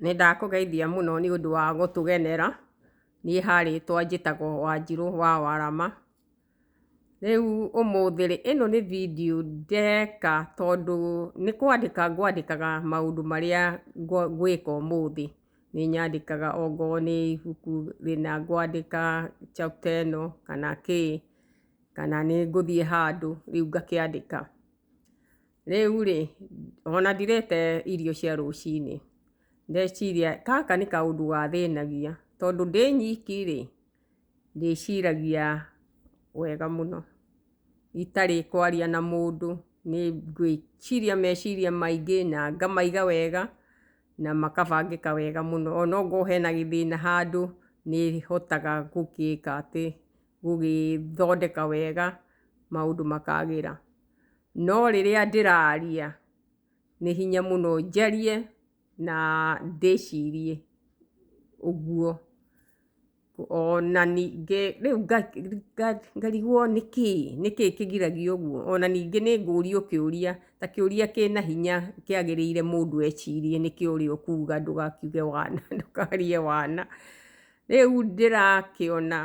Nĩ ndakũgeithia mũno nĩ ũndũ wa gũtũgenera. Niĩ ha rĩtwa njĩtagwo Wanjirũ wa Warama. Rĩu ũmũthĩ rĩ, ĩno nĩ video ndeka tondũ nĩ kwandĩka ngwandĩkaga maũndũ marĩa ngwĩka ũmũthĩ. Nĩ nyandĩkaga okorwo nĩ ibuku rĩna ngwandĩka chapter ĩno kana kĩĩ, kana nĩ ngũthiĩ handũ rĩu ngakĩandĩka. Rĩu-rĩ, ona ndirĩte irio cia rũcinĩ, ndeciria gaka nĩ kaũndũ gathĩnagia, tondũ ndĩ nyiki-rĩ, ndĩciragia wega mũno itarĩ kwaria na mũndũ, nĩ ngwĩciria meciria maingĩ na ngamaiga wega na makabangĩka wega mũno, ona ongorwo hena gĩthĩna handũ, nĩ hotaga gũgĩka atĩ, gũgĩthondeka wega maũndũ makagĩra. No rĩrĩa ndĩraria, nĩ hinya mũno njarie na ndĩcirie ũguo. Ona ningĩ rĩu ngarigwo nĩkĩ, nĩkĩ kĩngiragia ũguo? Ona ningĩ nĩ ngũrio kĩũria, ta kĩũria kĩna hinya kĩagĩrĩire mũndũ ecirie nĩkĩo ũrĩa ũkuga ndũgakiuge wana, ndũkarie wana. Rĩu ndĩrakĩona...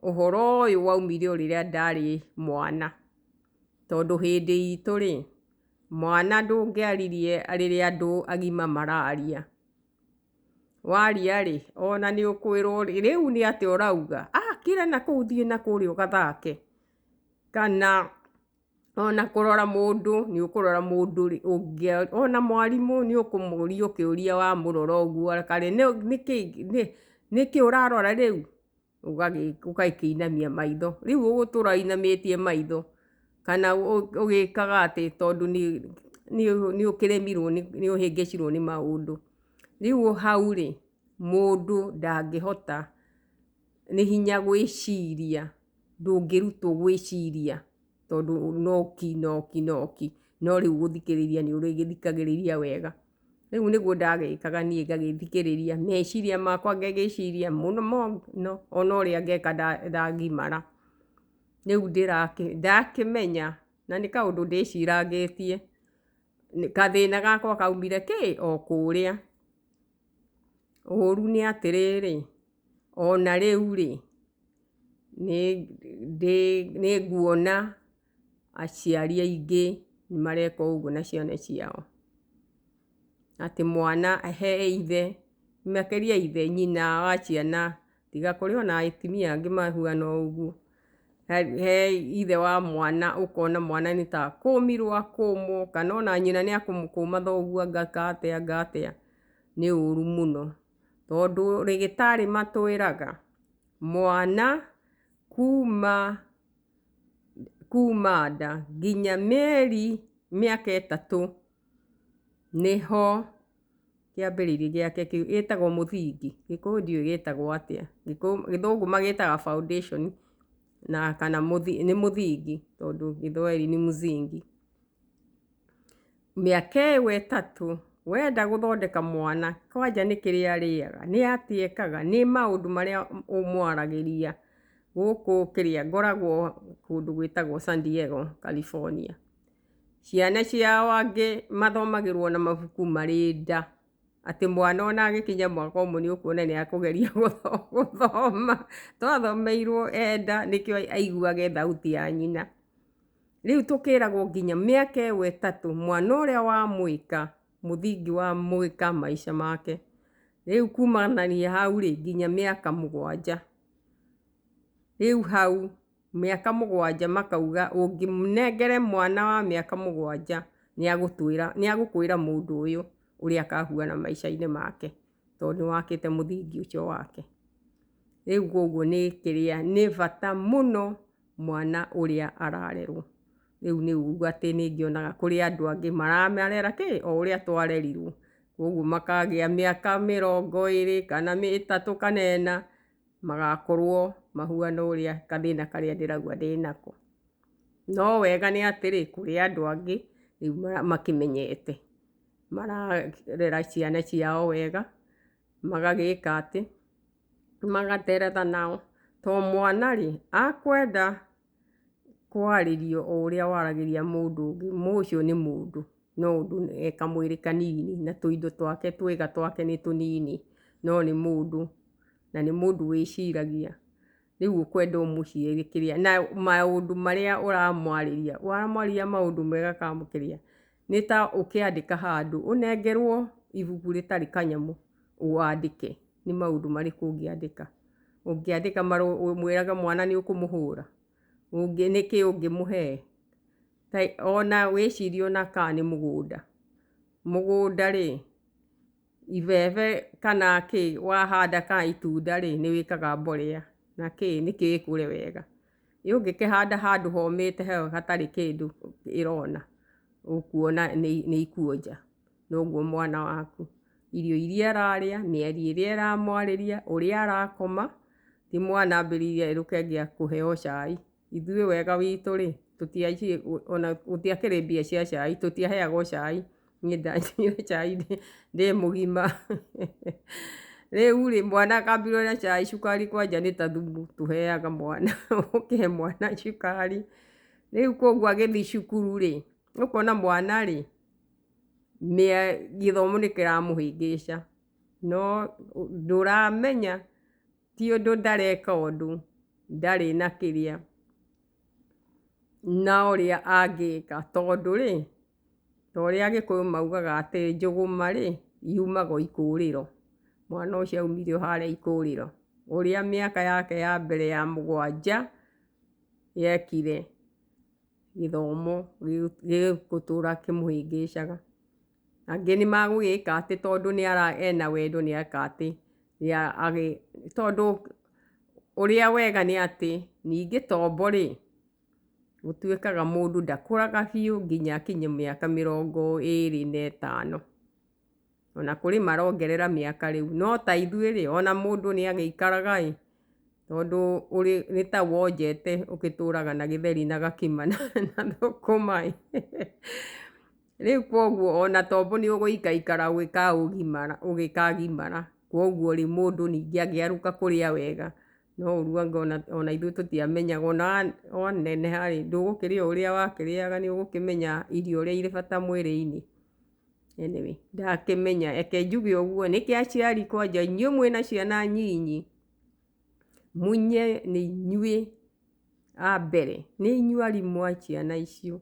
Ũhoro ũyũ waumire o rĩrĩa ndarĩ mwana, tondũ hĩndĩ itũ rĩ, mwana ndũngĩaririe rĩrĩa andũ agima mararia. Waria rĩ, ona nĩ ũkwĩrwo rĩu nĩ atĩa ũrauga, kĩra nakũu thiĩ nakũrĩa ũgathake, kana... Ona kũrora mũndũ nĩ ũkũrora mũndũ rĩ, ona mwarimũ nĩ ũkũmũria ũkĩũria wamũrora ũguo reka rĩ, nĩkĩ ũrarora rĩu? ũgakĩinamia maitho. Rĩu ũgũtũra ũinamĩtie maitho kana ũgĩkaga atĩ tondũ nĩ ũkĩremirwo nĩ ũhĩngĩcirwo nĩ maũndũ. Rĩu hau rĩ, mũndũ ndangĩhota nĩ hinya gwĩciria. ndũngĩrutwo gwĩciria tondũ noki noki noki, no rĩu gũthikĩrĩria nĩ ũrĩgĩthikagĩrĩria wega. Rĩu nĩguo ndagĩkaga niĩ ngagĩthikĩrĩria, meciria makwa ngagĩciria mũno mũno ona ũrĩa ngeka ndangimara. Rĩu ndakĩmenya na nĩ kaũndũ ndĩcirangĩtie, gathĩna gakwa kaumire kĩ? O kũrĩa. Ũru nĩ atĩrĩrĩ, ona rĩu rĩ, Nĩnguona aciari aingĩ mareka ũguo na ciana ciao, atĩ mwana he ithe, makĩria ithe, nyina wa ciana, tiga kũrĩ ona atumia angĩ mahuana ũguo, he ithe wa mwana ũkona mwana nĩ ta akũmirwo akũmwo, kana ona nyina nĩ akũmũkũma thoguo ageka atĩa ageka atĩa, nĩ ũru mũno, tondũ rĩgĩtarĩ matwĩraga. Mwana kuuma kuuma nda nginya mĩeri mĩaka ĩtatũ nĩho kĩambĩrĩria gĩake kĩu, ĩtagwo mũthingi, gĩkũyũ ndiũĩ gĩtagwo atĩa, gĩthũngũ magĩtaga foundation na kana nĩ mũthingi tondũ gĩthweri nĩ mzingi. Mĩaka ĩyo ĩtatũ, wenda gũthondeka mwana, kwanja nĩ kĩrĩa arĩaga, nĩ atĩa ekaga, nĩ maũndũ marĩa ũmwaragĩria gũkũ kĩrĩa, ngoragwo kũndũ gwĩtagwo San Diego California. Ciana ciao angĩ mathomagĩrwo na mabuku marĩ nda, atĩ mwana ona agĩkinya mwaka ũmwe nĩ ũkuona nĩ akũgeria gũthoma, to athomeirwo e nda nĩkĩo aiguaga e thauti ya nyina. Rĩu tũkĩragwo nginya mĩaka ĩyo ĩtatũ mwana ũrĩa wa mũika mũthingi wa mũika maica make rĩu kumanania hau rĩ nginya mĩaka mũgwanja rĩu hau mĩaka mũgwanja makauga ũngĩnengere mwana wa mĩaka mũgwanja nĩagũkwĩra mũndũ ũyũ ũrĩa akahuana maica-inĩ make tondũ nĩ wakĩte mũthingi ũcio wake. Rĩu koguo nĩ kĩrĩa, nĩ bata mũno mwana ũrĩa ararerwo. Rĩu nĩ uga atĩ nĩ ngĩonaga kũrĩ andũ angĩ maramarera kĩ? O ũrĩa twarerirwo. Koguo makagĩa mĩaka mĩrongo ĩrĩ, kana ĩtatũ, kana ĩna, magakorwo mahuana ũrĩa gathĩna karĩa ndĩrauga ndĩnako. No wega nĩ atĩrĩ, kũrĩ andũ angĩ rĩu makĩmenyete. mararera ciana ciao wega, magagĩka atĩ, magaterera nao, to mwana rĩ, akwenda kwarĩrio o ũrĩa waragĩria mũndũ ũngĩ, ma ũcio nĩ mũndũ, no ũndũ e kamwĩrĩ kanini, na tũindo twake twega twake nĩ tũnini, no nĩ mũndũ, na nĩ mũndũ wĩciragia, rĩu ũkwenda ũmũcie gĩkĩrĩa na maũndũ marĩa ũramwarĩria ũramwarĩria maũndũ mega ka mũkĩrĩa nĩ ta ũkĩandĩka handũ ũnengerwo ibuku rĩtarĩ kanyamũ wandĩke nĩ maũndũ marĩkũ ũngĩandĩka, ũngĩandĩka marũa ũmwĩraga mwana nĩ ũkũmũhũra ũngĩ nĩkĩ ũngĩmũhe ona wĩcirie ona ka nĩ mũgũnda, mũgũnda rĩ. Ibebe kana kĩ wahanda kana itunda rĩ nĩ wĩkaga mborera na kĩ nĩ kĩ ĩkũre wega. Rĩu ũngĩkĩhanda handũ homĩte hau hatarĩ kĩndũ ĩrona ũkuona nĩ ikuonja. Noguo mwana waku irio iria ararĩa, mĩario ĩrĩa ĩramwarĩria, ũrĩa arakoma, ti mwana ambĩrĩire erũke angĩambĩrĩria kũheo cai. ithuĩ wega witũ rĩ, ona gũtiakĩrĩ mbia cia cai, tũtiaheagwo cai, niĩ ndanyuire cai ndĩ mũgima. Rĩu rĩ, mwana akambirwo na cai, cukari kwanja nĩ ta thumu tũheaga mwana, ũkĩhe mwana cukari. Rĩu kũguo agĩthi cukuru rĩ, ũkona mwana rĩ, gĩthomo nĩ kĩramũhĩngĩca, no ndũramenya. ti ũndũ ndareka ũndũ ndarĩ na kĩrĩa na ũrĩa angĩka tondũ rĩ, ta ũrĩa agĩkũyũ maugaga atĩ njũgũma rĩ, yumaga o ikũrĩro. Mwana ũcio aumire o harĩa ikũrĩro. Ũrĩa mĩaka yake ya mbere ya mũgwanja yekire, gĩthomo gĩgũtũra kĩmũhĩngĩcaga. Angĩ nĩ magũgĩka atĩ tondũ nĩ ara ena wendo nĩ eka atĩ, nĩ agĩ, tondũ ũrĩa wega nĩ atĩ, ningĩ tombo rĩ, gũtuĩkaga mũndũ ndakũraga biũ nginya akinye mĩaka mĩrongo ĩrĩ na ĩtano. Ona kũrĩ marongerera mĩaka rĩu. No ta ithuĩ rĩ, ona mũndũ nĩ agĩikaraga ĩ, tondũ ũrĩ, nĩ ta wonjete ũgĩtũraga na gĩtheri na gakima na thũkũma ĩ. Rĩu kwoguo o na tombo nĩ ũgũikaikara ũgĩkagimara, kwoguo-rĩ, mũndũ ningĩ angĩarũka kũrĩa wega, no ũruange o na ithuĩ tũtiamenyaga, o na waneneha-rĩ, ndũgũkĩrĩa ũrĩa wakĩrĩaga, nĩ ũgũkĩmenya irio ũrĩa irĩ bata mwĩrĩ-inĩ. Anyway, ndakĩmenya, reke njuge ũguo, nĩkĩ aciari kwanja inyuĩ mwĩna ciana nyinyi, mũnye nĩ inyuĩ. a mbere, nĩ inyuĩ arimũ a ciana icio,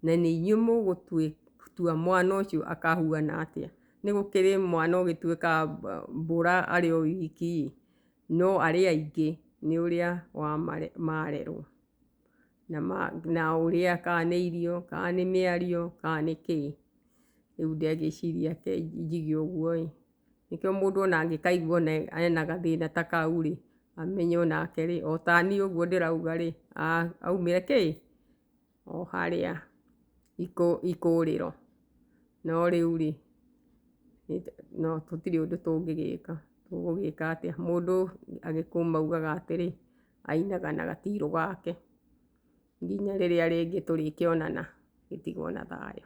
na nĩ inyuĩ mũgũtua mwana ũcio akahuana atĩa. Nĩ gũkĩrĩ mwana ũgĩtuĩka mbũra arĩ o wiki ĩ, no arĩa aingĩ nĩ ũrĩa marerwo, na ũrĩa kana nĩ irio, kana nĩ mĩario, kana nĩ kĩĩ. Rĩu ndĩagĩciria njige ũguo ĩ. Nĩkĩo mũndũ ona angĩkaigua ona ena gathĩna ta kau rĩ, amenye onake rĩ, otaniĩ ũguo ndĩrauga rĩ, aumĩre kĩ? O harĩa ikũũrĩro. No rĩu rĩ, no tũtirĩ ũndũ tũngĩgĩka. Tũgũgĩka atĩa? Mũndũ agĩkũma augaga atĩrĩ, ainaga na gatirũ gake. Nginya rĩrĩa rĩngĩ tũrĩkĩonana, gĩtigwo na thayũ.